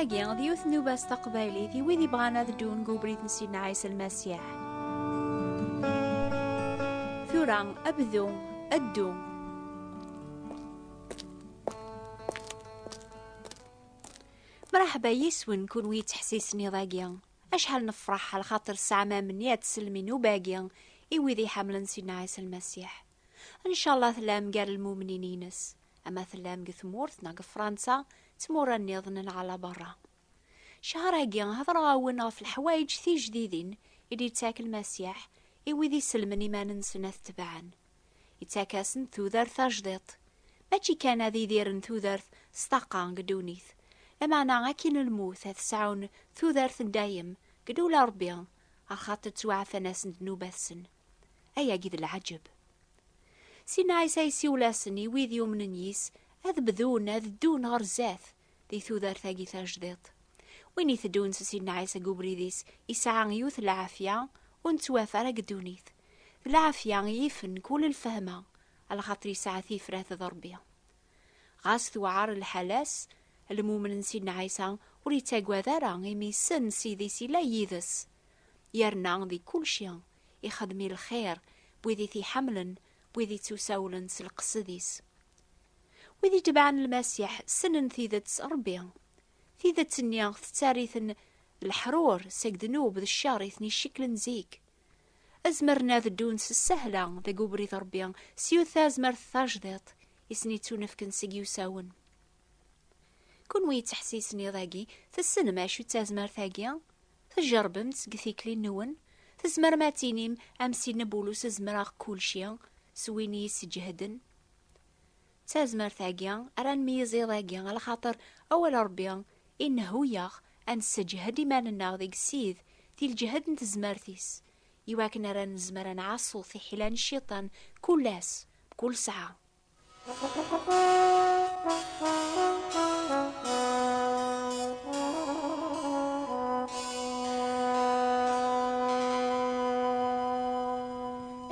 Tagi, d yiwet n ubas taqbaylit i wid ibɣan ad ddun deg ubrid n Sidna Ɛisa Lmasiḥ. Tura, abdu, addu. Mṛaḥba yis-wen kunwi yettḥessisen iḍ-agi. Acḥal nefreḥ ɣer xaṭer tesɛam amni ad tesellem i nnuba-agi i wid i iḥemmlen Sidna Ɛisa Lmasiḥ. Ncallah tellam gar lmumnin-ines, ama tellam deg tmurt neɣ deg Fransa d tmura nniḍen neɣ ala berra. Ccehṛ-agi heḍṛeɣ-awen ɣef leḥwayeǧ tijdidin i d-yettak Lmasiḥ i wid isellmen iman-nsen ad t-tebɛen. Ittak-asen tudert tajdiṭ. Mačči kan ad idiren tudert s taqa deg ddunit, lameɛna akin lmut ad sɛun tudert n dayem deg ddula Rebbi, ɣer xaṭer ttwaɛfan-asen ddnubat-sen. Ayagi d lɛaǧeb! Sinna Ɛisa yessiwel-asen i wid yumnen yis, ad bdun ad ddun ɣer zdat, di tudert-agi tajdiṭ. Win iteddun s Sidna Ɛisa deg ubrid-is isɛa yiwet n lɛafya ur nettwaf ara deg ddunit. D lɛafya i yifen kul lfehma, alxaṭer yesɛa tifrat d Ṛebbi. Ɣas tewɛer lḥala-s, lmumen n Sidna Ɛisa ur yettagad ara imi yessen Ssid-is yella yid-s. Yerna di kulci ixeddem i lxir n wid i t-iḥemmlen wid ittusawlen s lqesed-is. Wid itebɛen lmasiḥ ssnen tidet s Rebbi. Tidet-nni tettariten leḥrur seg ddnub d ccer i ten-icikklen zik. Azmeren ad ddun s ssahla deg ubrid Rebbi s yiwet tazmert tajdiṭ i sen-ittunefken seg yusawen. Kunwi yettḥessisen iḍ-agi, tessnem acu d tazmert-agi? Tjerrbem-tt deg tikli-nwen? Tzemrem ad tinim am Sidna Bulus zemreɣ kulci s win i yi-sseǧehden? D tazmert-agi ara nmeyyez iḍ-agi alaxaṭer awal Rebbi inehhu-yaɣ ad nesseǧhed iman-nneɣ deg Sid di lǧehd n tezmert-is iwakken ara nezmer ad nɛassu tiḥila n cciṭan kul ass, mkul sɛa.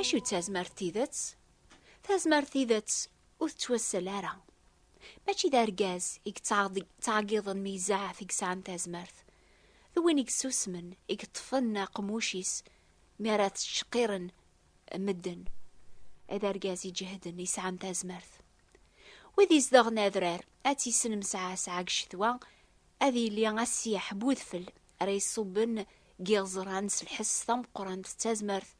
acu d tazmert tidet? Tazmert tidet ur tettwassal ara. Mačči d argaz i yettɛeggiḍen mi izaɛef i yesɛan tazmert. D win i yessusmen, i yeṭṭfen aqemmuc-is mi ara tettceqqiren Medden, d argaz iǧehden yesɛan tazmert. Wid izdeɣen adrar, ad tt-yesnem sɛa sɛa deg ccetwa, ad yili assiyeḥ n udfel ara iṣubben deg yiɣeẓran s lḥess tameqqrant d tazmert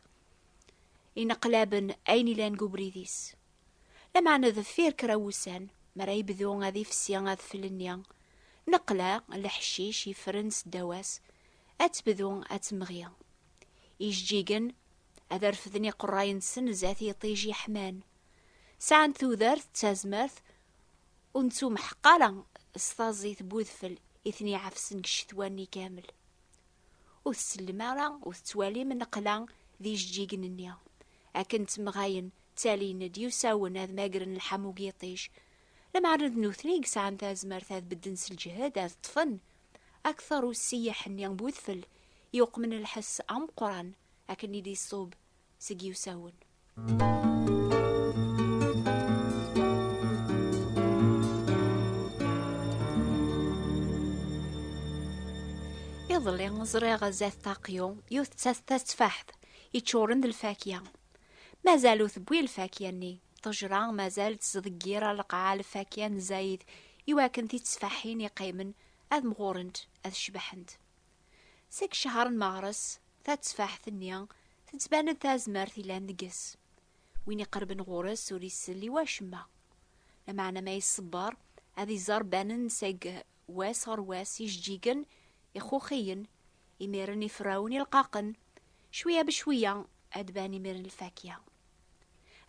ineqlaben ayen ilan deg ubrid-is. Lameɛna deffir kra wussan, mi ara yebdu ad ifsi adfel-nni, neqla leḥcic yeffren s ddaw-as, ad tebdu ad temɣi. Ijeǧǧigen ad refden iqerray-nsen zdat yiṭij yeḥman. Sɛan tudert d tazmert ur nettumḥeq ara s taẓit n udfel i ten-iɛefsen deg ccetwa-nni kamel. Ur tsellem ara, ur tettwalim nneqla d ijeǧǧigen-nni. Akken ttemɣayen, ttalin-d, yusawen ad magren lḥamu n yiṭij. Lameɛna d nutni i yesɛan tazmert ad bedden s lǧehd, ad ṭṭfen akteṛ ussiyaḥ-nni n wedfel yuqmen lḥess ameqqran akken i d-iṣub seg yiwsawen. Iḍelli ẓriɣ zdat Taqyu yiwet d tateffaḥt yeččuren d lfakya. Mazal ur tewwi lfakya-nni. Ṭejra mazal tettḍeggir ar lqaɛa lfakya n zzayed iwakken titteffaḥin yeqqimen ad mɣurent, ad cebḥent. Seg ccher n meɣres, tatteffaḥt-nni tettban-d tazmert yellan deg-s. Win iqerben ɣur-s ur isell i wacemma. Lameɛna ma iṣebber, ad iẓer banen-d seg Wass ɣer wass ijeǧǧigen, ixuxiyen, imiren ifrawen ilqaqen, cwiya becwiya ad d-ban imiren lfakya.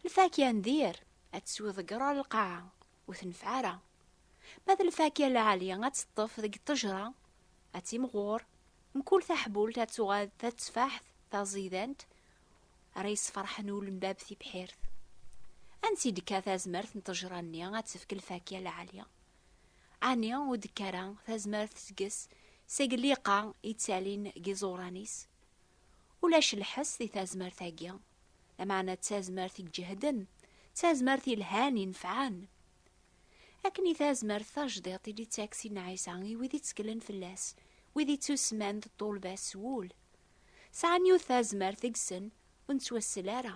Lfakya n dir ad teswiḍ deg ɣer lqaɛa, ur tenfeɛ ara. Ma d lfakya lɛali ad teṭṭef deg ṭṭejra, ad timɣur, mkul taḥbult ad tuɣal d tateffaḥt taẓidant ara yesferḥen ul n bab tibḥirt. Ansi d-tekka tazmert n ṭṭejra-nni ad tefk lfakya lɛali? Ɛni ur d-tekka ara tazmert seg-s seg lliqa yettalin deg yiẓuran-is? Ulac lḥes di tazmert-agi, lameɛna d tazmert iǧehden, d tazmert yelhan inefɛen. Akken i tazmert tajdiṭ i d-ittak Sidna Ɛisa i wid itteklen fell-as, wid ittusemman d ṭṭulba s wul. Sɛan yiwet tazmert deg-sen ur nettwassel ara.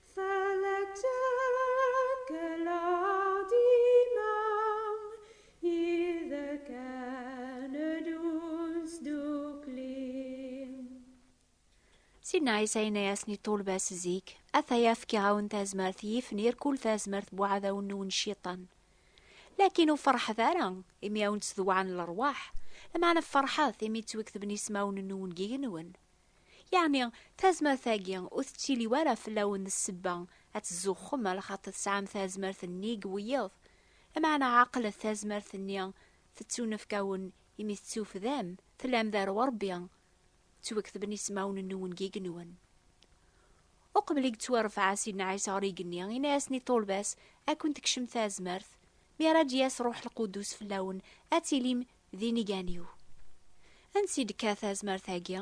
Sin Ɛisa yenna-yasen i ṭṭulba-s zik, ataya fkiɣ-awen tazmert yifnir kul tazmert bu ɛdawen n unciṭan. Lakin ur ferḥet ara imi awen-ttdewɛen lerwaḥ, lmeɛna ferḥet imi ttwektben ismawen n ungigen-nwen. Yeɛni, tazmert-agi ur tettili ara fell-awen ssebba ad tzuxxem ala xaṭi tesɛam tazmert nnig wiyiḍ, lameɛna ɛqlet tazmert-nni tettunefk-awen imi tettufdam tellam dar Urebbi, ttwaketben ismawen-nwen deg yigenwan. Uqbel i yettwarfeɛ Sidna Ɛisa ɣer yigenni, yenna-yasen i ṭṭulba-s, Ad ken-tekcem tazmert, mi ara d-yas Ṛuḥ Lqudus fell-awen, ad tilim D inigan-iw. Ansi i d-tekka tazmert-agi?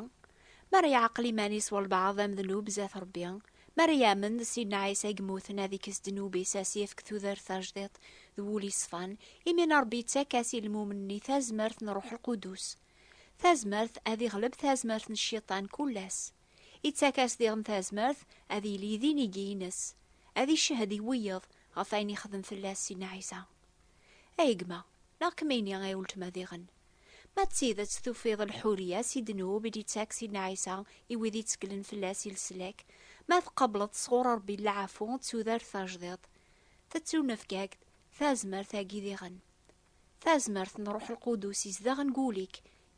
Mi ara yeɛqel iman-is walbeɛḍ am ddnub zdat Rebbi, mi ara yamen d Sidna Ɛisa i yemmuten ad ikkes ddnub-is ad as-yefk tudert tajdiṭ d wul yeṣfan, imina Rebbi yettak-as i lmumen-nni tazmert n Ṛṛuḥ Lqudus. Tazmert ad iɣleb tazmert n Cciṭan kul ass. Ittak-as diɣen tazmert ad yili d inigi-ines, ad icehhed i wiyeḍ ɣef wayen yexdem fell-as Sidna Ɛisa. Ay gma, neɣ kemmini ay weltma diɣen. Ma d tidet tufiḍ lḥuriya si ddnub i d-ittak Sidna Ɛisa i wid itteklen fell-as i leslak, ma tqableḍ sɣur Rebbi lɛafu d tudert tajdiṭ, tettunefk-ak-d tazmert-agi diɣen. Tazmert n Ṛuḥ Lqudus izdeɣ deg wul-ik,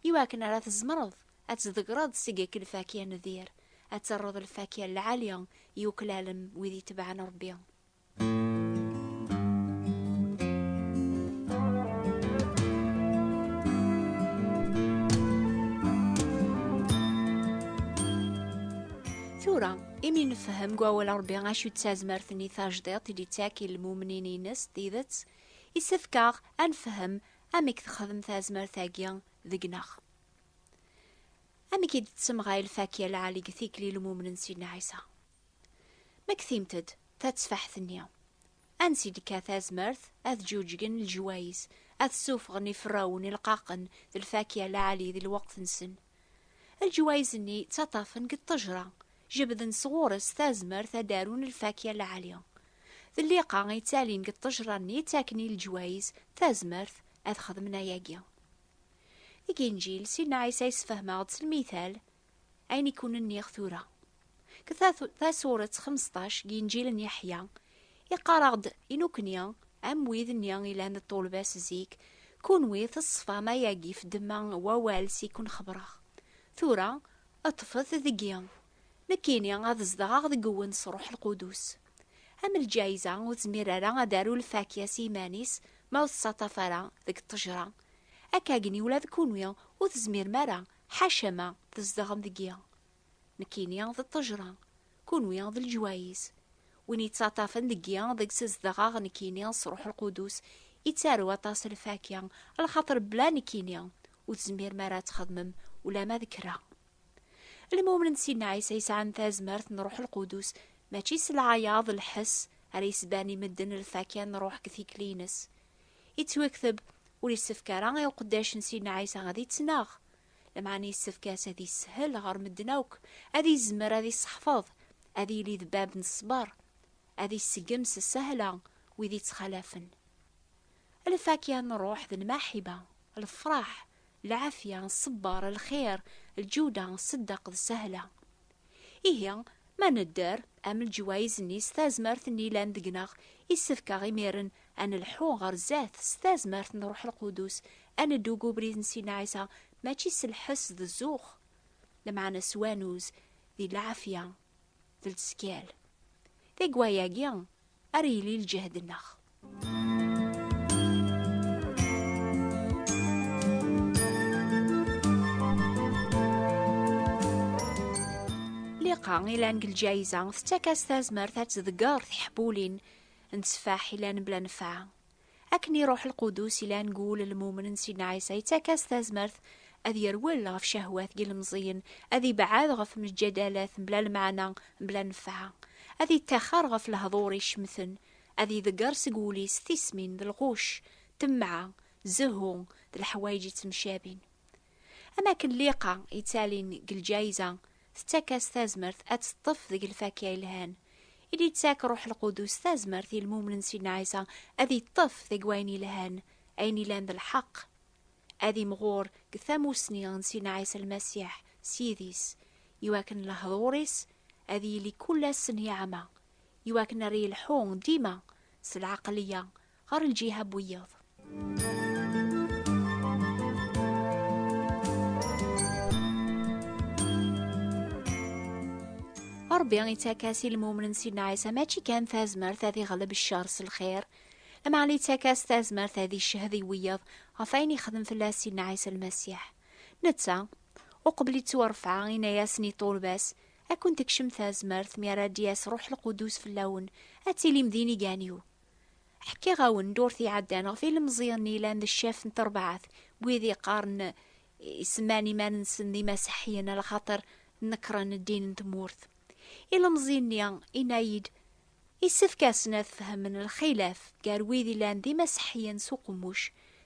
i wakken ara tzemreḍ ad tḍeggreḍ seg ek lfakya n dir, ad terreḍ lfakya n lɛali i uklal n wid itebɛen Ṛebbi. Tura, imi nefhem deg wawal Rebbi acu d tazmert-nni tajdiṭ i d-ittak i lmumnin-ines tidet, isefk-aɣ ad nefhem amek texdem tazmert-agi deg-neɣ. Amek i d-tettemɣay lfakya lɛali deg tikli n lmumnen Sidna Ɛisa? Ma ktimt-d, Tatteffaḥt-nni. Ansi d-tekka tazmert, ad ǧuǧgen leǧwayes, ad ssufɣen iferrawen ileqqaqen d lfakya lɛali di lweqt-nsen. Leǧwayes-nni ttaṭṭafen deg ṭṭejra, jebden sɣur-s tazmert ad d-arun lfakya lɛali. D lliqa i yettalin deg ṭṭejra-nni ttaken i leǧwayes tazmert ad xedmen ayagi. Deg Inǧil, Sidna Ɛisa yessefhem-aɣ-d s lmital Ayen i kun-nniɣ tura. Ke tasuret xmesṭac n Inǧil n Yeḥya, iqqar-aɣ-d i nukni, am wid-nni i lan d ṭṭulba-s zik, Kunwi teṣfam ayagi f ddemma n wawal s i kun-xebreɣ. Tura, ṭṭfet deg-i. Nekkini ad zedɣeɣ deg-wen s Ṛuḥ Lqudus. Am lǧayza, ur tezmir ara ad d-taru lfakya s yiman-is ma ur teţţaṭṭaf ara deg ṭṭejṛa, akkagen i ula d kunwi ur tezmirem ara Ḥaca ma tzedɣem deg-i. Nekkini d ṭṭejra, kunwi d leǧwayiz. Win yettaṭṭafen deg-i deg-s zedɣeɣ nekkini s Ruḥ Lqudus yettaru aṭas lfakya, lxaṭer bla nekkini ur tezmirem ara ad txedmem ulama d kra. Lmumnen d Sidna Ɛisa yesɛan tazmert n Ruḥ Lqudus, mačči s lɛayaḍ, lḥess, ara yesban i medden lfakya n Ruḥ deg tikli-ines. Yettwakteb ur yessefk ara i uqeddac n Sidna Ɛisa ad ittnaɣ, lameɛna yessefk-as ad yeshel ɣer medden akk, ad yezmer ad iseḥfeḍ, ad yili d bab n ṣṣber, ad iseggem s sahla wid ittxalafen. Lfakya n ṛṛuḥ d lmaḥiba, lefṛaḥ, lɛafya, ṣṣber, lxir, lǧuda, ṣṣeddaq d sahla. Ihi, ma nedder, am leǧwayez-nni s tazmert-nni yellan deg-neɣ, yessefk-aɣ imiren ad nelḥu ɣer zdat s tazmert n Ṛuḥ Lqudus, ad neddu deg ubrid n Sidna Ɛisa, mačči s lḥess d zzux, lameɛna s wanuz, di lɛafya d lezkal. Deg wayagi, ara yili lǧehd-nneɣ. Liqa ilan deg lǧayiza tettak-as tazmert ad tḍegger tiḥbulin n tteffaḥ ilan bla nfeɛ. Akken i ruḥ lqudus i lan gul lmumen n Sidna Ɛisa yettak-as tazmert ad yerwel ɣef cahwat n yilemẓiyen, ad ibɛad ɣef mejjadalat mebla lmeɛna, mebla nnfeɛ, ad yettaxer ɣef lehḍur icemten, ad iḍegger seg wul-is tismin d lɣucc, temɛa, zehhu d leḥwayeǧ yettemcabin. Am akken lliqa yettalin deg lǧayza tettak-as tazmert ad teṭṭef deg lfakya yelhan. I d-yettak Ruḥ Lqudus tazmert i lmumnen Sidna Ɛisa ad yeṭṭef deg wayen yelhan, ayen ilan d lḥeqq. Ad imɣur deg tamussni n Sidna Ɛisa Lmasiḥ s yid-is, iwakken lehḍur-is ad yili kul ass n yeɛma, iwakken ar yelḥu dima s lɛaqliya ɣer lǧiha n wiyaḍ. Ṛebbi ittak-as i lmumen n Sidna Ɛisa mačči kan tazmert ad iɣleb ccer s lxir, lameɛna ittak-as tazmert ad iccehd i wiyaḍ ɣef ayen ixdem fell-as Sidna Ɛisa Lmasiḥ. Netta, uqbel ittwarfeɛ, inna-yasen i ṭṭulba-s, Ad kent-tekcem tazmert mi ara d-yas Ṛuḥ Lqudus fell-awen, ad tilim d inigan-iw. Ḥkiɣ-awen ddurt iɛeddan ɣef ilemẓiyen yellan d ccaf n terbaɛt, wid yeqqaren isemman iman-nsen d imaseḥiyen ala xaṭer nekren ddin n tmurt. Ilemẓi-nni inna-yi-d, Issefk-asen ad fehmen lxilaf gar wid yellan d imaseḥiyen s uqemmuc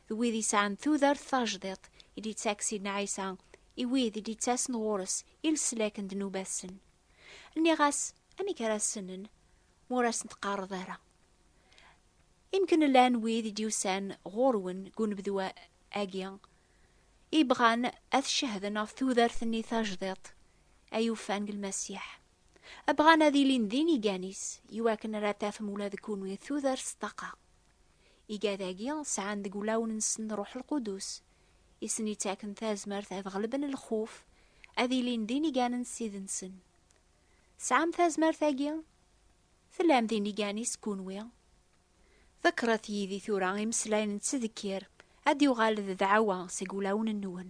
d wid yesɛan tudert tajdiṭ i d-yettak Sidna Ɛisa i wid i d-yettasen ɣur-s i leslak n ddnubat-sen. Nniɣ-as, amek ara ssnen ma ur asen-teqqareḍ ara? Imken llan wid i d-yusan ɣur-wen deg unebdu-agi, i bɣan ad t-cehden ɣef tudert-nni tajdiṭ ay ufan deg Lmasiḥ. Bɣan ad ilin d inigan-is, i wakken ara tafem ula deg kunwi tudert s ṭṭaqa. Igad-agi sɛan deg ulawen-nsen Ṛuḥ Lqudus, i sen-yettaken tazmert ad ɣelben lxuf, ad ilin d iniganen s tid-nsen. Tesɛam tazmert-agi? Tellam d inigan-is kunwi? Ḍekkret yid-i tura imeslayen n ttdekkir, ad d-yuɣal d dɛawa seg wulawen-nwen.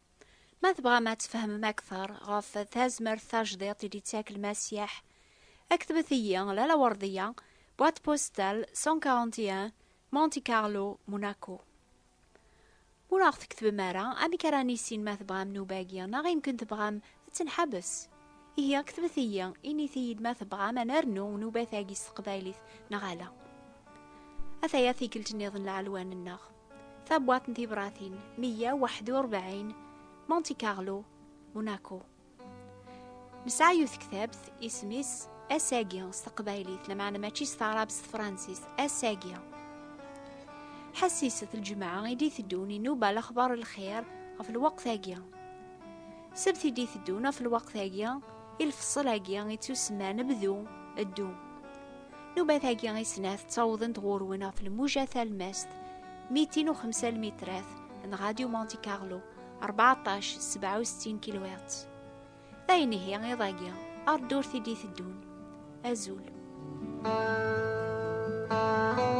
Ma tebɣam ad tfehmem akteṛ ɣef tazmert tajdiṭ i d-ittak Lmasiḥ, ktbet-iyi la Lawerdiya, boîte postale 141, Monte Carlo, Monaco. Ma ur aɣ-tketbem ara, amek ara nissin ma tebɣam nnuba-agi neɣ imken tebɣam ad tenḥabes? Ihi ktbet-iyi, init-iyi-d ma tebɣam ad nernu nnuba-tagi s teqbaylit neɣ ala. Ataya tikkelt-nniḍen lɛelwa-nneɣ. Tabwat n tibratin 141 Monte Carlo, Monaco. Nesɛa yiwet tektabt isem-is Asagi s teqbaylit, lameɛna mačči s taɛrabt s tefransist, Asagi. Ḥassiset lǧemɛa i d-iteddun inuba lexbar lxir ɣef lweqt-agi. Sebt i d-iteddun ɣef lweqt-agi, i lfeṣṣel-agi ittusemman bdu, ddu. Nubat-agi i snat ttawḍent ɣur-wen ɣef lmuja talmast 205 lmitrat n Radio Monte Carlo 14 67 kHz. D ayen ihi iḍ-agi ar ddurt i d-iteddun. Azul. Thank you.